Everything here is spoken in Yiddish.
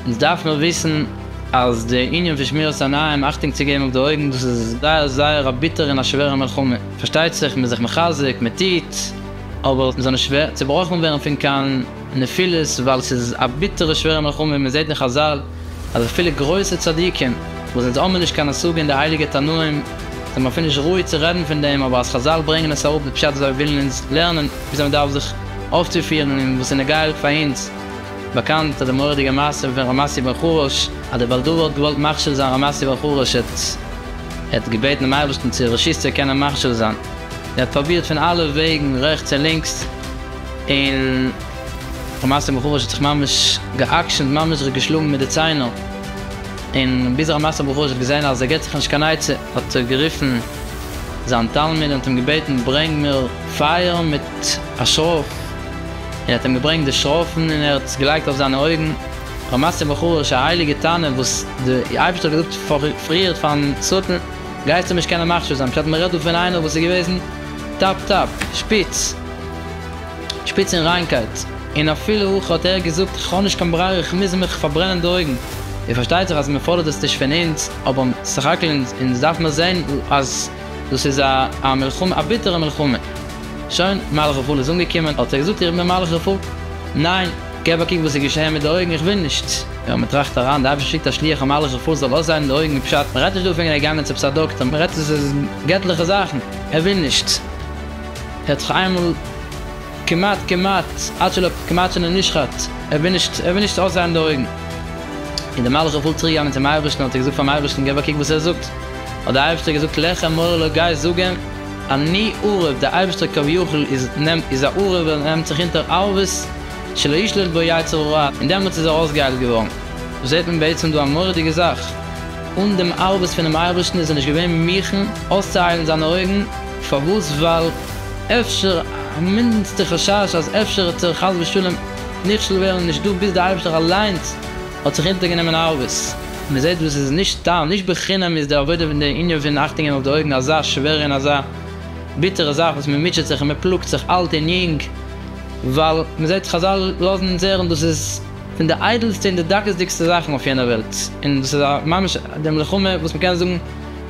אונז דארף נאר וויסן אז די ענין פון שמירת עיניים, אכטונג צו געבן אויף די אויגן, דאס איז זייער זייער א ביטערע און א שווערע מלחמה. פארשטייט זיך מ'איז זיך מחזק, מ'טוט, אבער מ'זאל נישט צעבראכן ווערן פון קיין נפילות, ווייל ס'איז א ביטערע שווערע מלחמה, מ'זעט דאך חזל, אז אפילו גרויסע צדיקים וואס זיי האבן נישט קיין השגה אין די הייליגע תנאים זענען אפילו נישט ראוי צו רעדן פון דעם אבער אז חזל ברענגען עס אראפ די פשט אז זיי ווילן אונז לערנען וויאזוי מען דארף זיך אויפצופירן און וואס איז נגעהליך פאר אונז. באקאנט די מורא'דיגע מעשה פון ר' מסי בן חרוש אז די בעל דבר האט געוואלט מכשיל זיין ר' מסי בן חרוש ער האט געבעטן דעם אייבערשטן צו ר' שוסטער קען אים מכשיל זיין ער האט פרובירט פון אלע וועגן רעכטס און לינקס און למעשה בחור וואס האט זיך ממש גע'עקשנ'ט ממש זיך געשלאגן מיט די ציינער, און ביז א מעשה בחור וואס האט געזען אז ער געט זיך נישט קיין עצה האט ער גערופן זיין תלמיד און האט אים געבעטן ברענג מיר פייער מיט א שרויף, און ער האט אים געברענגט די שרויפן און ער האט עס געלייגט אויף זיינע אויגן, למעשה בחור איז א הייליגע תנא וואס די אייבערשטער האט געזאגט פריערט פארן שטן גייסטו נישט קענען מכשיל זיין, פשט מ'רעדט דא פון איינער וואס איז געוועזן טאפ טאפ שפיץ. שפיץ און ריינקייט, און אפילו אויך האט ער געזאגט כ'האב נישט קיין ברירה איך מוז מיך פארברענען די אויגן, און פארשטייט זיך אז מ'פאדערט עס נישט פון אונז, אבער סך הכל אונז דארף מיר זען אז דאס איז א א מלחמה א ביטערע מלחמה. שוין, מהלך רפאל איז אנגעקומען, האט ער געזאגט איך בין מהלך רפאל, ניין, געב א קוק וואס איז געשעהן מיט די אויגן איך וויל נישט, יא מ'טראכט אריין, די אייבערשטער שיקט א שליח א מהלך רפאל זאל אויסהיילן די אויגן פשט מ'רעדט נישט דא פון געגאנגען צו עפעס א דאקטער מ'רעדט עס איז געטליכע זאכן, ער וויל נישט. ער האט זיך איינמאל כמעט כמעט עד שלא כמעט שלא נשחט, ער וויל נישט ער וויל נישט אויסזייען די אויגן, און די מלאך איז פול צוריק געגאנגען צום אייבערשטן האט ער געזאגט פארן אייבערשטן געב א קוק וואס ער זאגט, האט די אייבערשטער געזאגט לך מור לו גיי זאג אים אני ערוב, די אייבערשטער כביכול איז איז א ערוב ער נעמט זיך אונטער ערבות שלא ישלוט בו יצר הרע, און דעמאלטס איז ער אויסגעהיילט געווארן, זעט מען בעצם דא א מורא'דיגע זאך, אן דעם ערבות פונעם אייבערשטן איז ער נישט געווען מוכן אויסצוהיילן זיינע אויגן, פארוואס? ווייל אפשר א מינדענסטע חשש אז אפשר האט ער חס ושלום נכשל ווערן איז נישטא ביז די אייבערשטער אליינס האט זיך אונטערגענומען ארבעס. מען זעט וואס עס איז נישט סתם, נישט בחינם איז די עבודה פון די ענין פון אכטונג געבן אויף די אויגן אזא שווערע און אזא ביטערע זאך וואס מען מוטשעט זיך און מען פלאגט זיך אלט און יונג ווייל מען זעט חזל לאזן אונז הערן דאס איז פון די איידלסטע און די דקות'דיגסטע זאכן אויף יענער וועלט און דאס איז ממש די מלחמה וואס מען קען זאגן